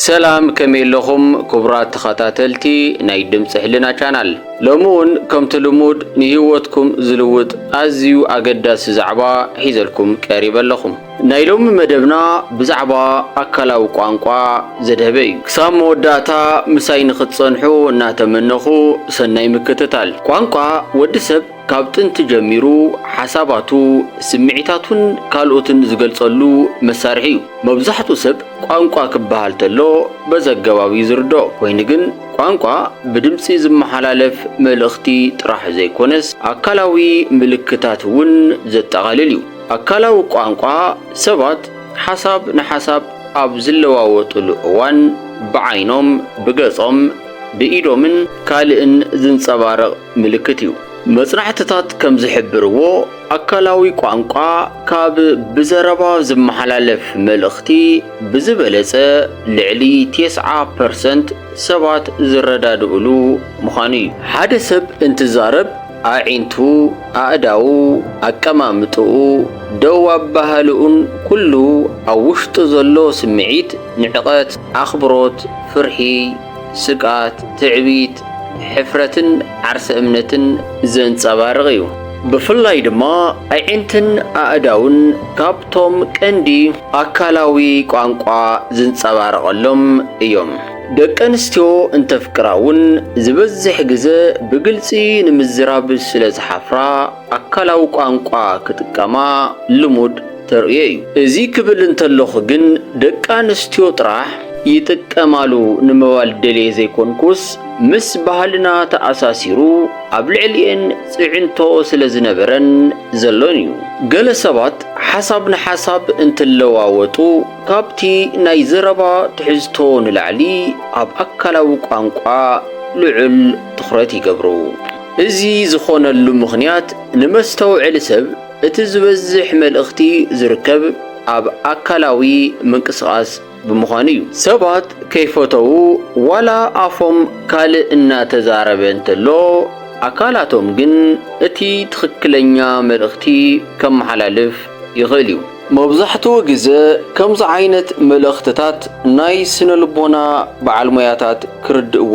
ሰላም ከመይ ኣለኹም ክቡራት ተኸታተልቲ ናይ ድምፂ ሕልና ቻናል ሎሚ እውን ከምቲ ልሙድ ንህይወትኩም ዝልውጥ ኣዝዩ ኣገዳሲ ዛዕባ ሒዘልኩም ቀሪበ ኣለኹ ናይ ሎሚ መደብና ብዛዕባ ኣካላዊ ቋንቋ ዘድሀበ እዩ ክሳብ መወዳእታ ምሳይ ንክትፀንሑ እናተመነኹ ሰናይ ምክትታል ቋንቋ ወዲ ሰብ ካብ ጥንቲ ጀሚሩ ሓሳባቱ፣ ስምዒታቱን ካልኦትን ዝገልጸሉ መሳርሒ እዩ። መብዛሕትኡ ሰብ ቋንቋ ክበሃል ተሎ በዚ ኣገባብ እዩ ዝርድኦ። ኮይኑ ግን ቋንቋ ብድምጺ ዝመሓላለፍ መልእኽቲ ጥራሕ ዘይኮነስ ኣካላዊ ምልክታት እውን ዘጠቓልል እዩ። ኣካላዊ ቋንቋ ሰባት ሓሳብ ንሓሳብ ኣብ ዝለዋወጥሉ እዋን ብዓይኖም፣ ብገጾም፣ ብኢዶምን ካልእን ዝንጸባረቕ ምልክት እዩ። መጽናዕትታት ከም ዝሕብርዎ፣ ኣካላዊ ቋንቋ ካብ ብዘረባ ዝመሓላለፍ መልእኽቲ ብዝበለጸ ልዕሊ ቴስዓ ፐርሰንት ሰባት ዝረዳድእሉ ምዃኑ እዩ። ሓደ ሰብ እንትዛረብ፣ ኣዒንቱ፣ ኣእዳዉ፣ ኣቀማምጥኡ፣ ደው ኣበሃህልኡን ኩሉ ኣብ ውሽጡ ዘሎ ስምዒት፣ ንዕቐት፣ ኣኽብሮት፣ ፍርሒ፣ ስግኣት፣ ትዕቢት፣ ሕፍረትን ዓርሰ እምነትን ዘንጸባርቕ እዩ። ብፍላይ ድማ ኣዒንትን ኣእዳውን ካብቶም ቀንዲ ኣካላዊ ቋንቋ ዝንጸባረቐሎም እዮም። ደቂ ኣንስትዮ እንተፍቅራ'ውን ዝበዝሕ ግዘ ብግልጺ ንምዝራብ ስለዝሓፍራ፣ ኣካላዊ ቋንቋ ክጥቀማ ልሙድ ተርእዮ እዩ። እዚ ክብል እንተለኹ ግን ደቂ ኣንስትዮ ጥራሕ ይጥቀማሉ ንምባል ደልየ ዘይኮንኩስ ምስ ባህልና ተኣሳሲሩ ኣብ ልዕሊኤን ፅዕንቶ ስለ ዝነበረን ዘሎን እዩ። ገለ ሰባት ሓሳብ ንሓሳብ እንትለዋወጡ ካብቲ ናይ ዘረባ ትሕዝቶ ንላዕሊ ኣብ ኣካላዊ ቋንቋ ልዑል ትኹረት ይገብሩ። እዚ ዝኾነሉ ምኽንያት ንመስተውዐሊ ሰብ እቲ ዝበዝሕ መልእኽቲ ዝርከብ ኣብ ኣካላዊ ምንቅስቓስ ብምዃኑ እዩ። ሰባት ከይፈተዉ ዋላ ኣፎም ካልእ እናተዛረበ እንተሎ ኣካላቶም ግን እቲ ትኽክለኛ መልእኽቲ ከመሓላልፍ ይኽእል እዩ። መብዛሕትኡ ግዘ ከምዚ ዓይነት መልእኽትታት ናይ ስነ ልቦና በዓል ሞያታት ክርድእዎ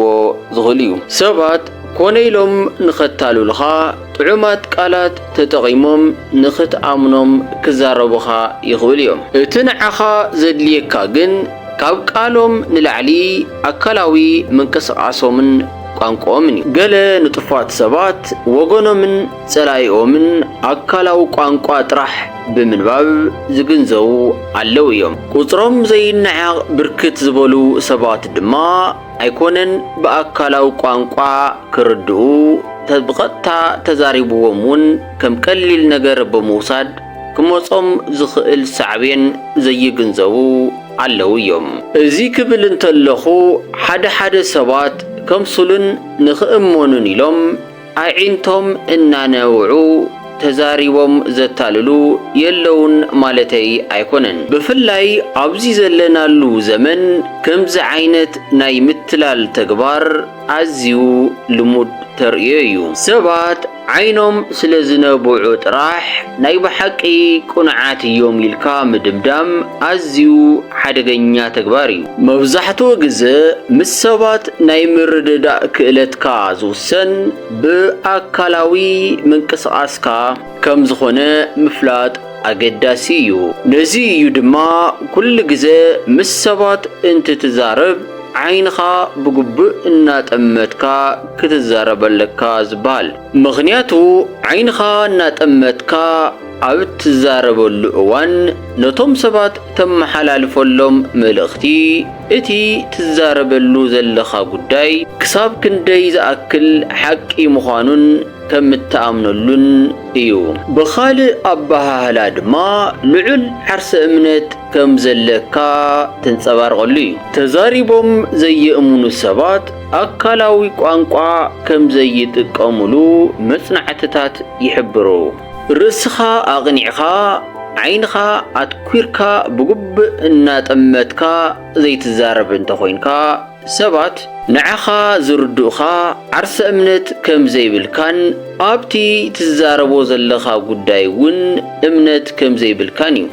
ዝኽእሉ እዩ። ሰባት ኮነ ኢሎም ንኸታሉልኻ ጥዑማት ቃላት ተጠቒሞም ንኽትኣምኖም ክዛረቡኻ ይኽእሉ እዮም። እቲ ንዓኻ ዘድልየካ ግን ካብ ቃሎም ንላዕሊ ኣካላዊ ምንቅስቓሶምን ቋንቋኦምን እዩ። ገለ ንጡፋት ሰባት ወገኖምን ጸላኢኦምን ኣካላዊ ቋንቋ ጥራሕ ብምንባብ ዝግንዘቡ ኣለዉ እዮም። ቁጽሮም ዘይነዓቕ ብርክት ዝበሉ ሰባት ድማ ኣይኮነን ብኣካላዊ ቋንቋ ክርድኡ ተ ብቐጥታ ተዛሪብዎም እውን ከም ቀሊል ነገር ብምውሳድ ክመጾም ዝኽእል ሳዕቤን ዘይግንዘቡ ኣለዉ እዮም። እዚ ክብል እንተለኹ ሓደ ሓደ ሰባት ከምስሉን ንኽእመኑን ኢሎም ኣዒንቶም እናነውዑ ተዛሪቦም ዘታልሉ የለዉን ማለተይ ኣይኮነን። ብፍላይ ኣብዚ ዘለናሉ ዘመን ከምዚ ዓይነት ናይ ምትላል ተግባር ኣዝዩ ልሙድ ተርእዮ እዩ። ሰባት ዓይኖም ስለ ዝነብዑ ጥራሕ ናይ ብሓቂ ቅኑዓት እዮም ኢልካ ምድምዳም ኣዝዩ ሓደገኛ ተግባር እዩ። መብዛሕትኡ ግዘ ምስ ሰባት ናይ ምርድዳእ ክእለትካ ዝውሰን ብኣካላዊ ምንቅስቓስካ ከም ዝኾነ ምፍላጥ ኣገዳሲ እዩ። ነዚ እዩ ድማ ኩሉ ግዘ ምስ ሰባት እንትትዛረብ ዓይንኻ ብግቡእ እናጠመትካ ክትዛረብ ኣለካ ዝብሃል። ምኽንያቱ ዓይንኻ እናጠመትካ ኣብ እትዛረበሉ እዋን ነቶም ሰባት እተመሓላልፈሎም መልእኽቲ፣ እቲ ትዛረበሉ ዘለኻ ጕዳይ ክሳብ ክንደይ ዝኣክል ሓቂ ምዃኑን ከም እትኣምነሉን እዩ። ብኻልእ ኣበሃህላ ድማ ልዑል ዓርሰ እምነት ከም ዘለካ ተንጸባርቐሉ እዩ። ተዛሪቦም ዘየእምኑ ሰባት ኣካላዊ ቋንቋ ከም ዘይጥቀሙሉ መጽናዕትታት ይሕብሩ። ርእስኻ ኣቕኒዕኻ ዓይንኻ ኣትኲርካ ብግቡእ እናጠመትካ ዘይትዛረብ እንተ ኾይንካ፣ ሰባት ንዓኻ ዝርድኡኻ ዓርሰ እምነት ከም ዘይብልካን ኣብቲ ትዛረቦ ዘለኻ ጉዳይ እውን እምነት ከም ዘይብልካን እዩ።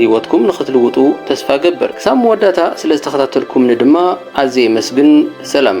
ሂወትኩም ንኽትልውጡ ተስፋ እገብር። ክሳብ መወዳእታ ስለ ዝተኸታተልኩምኒ ድማ ኣዝየ የመስግን። ሰላም።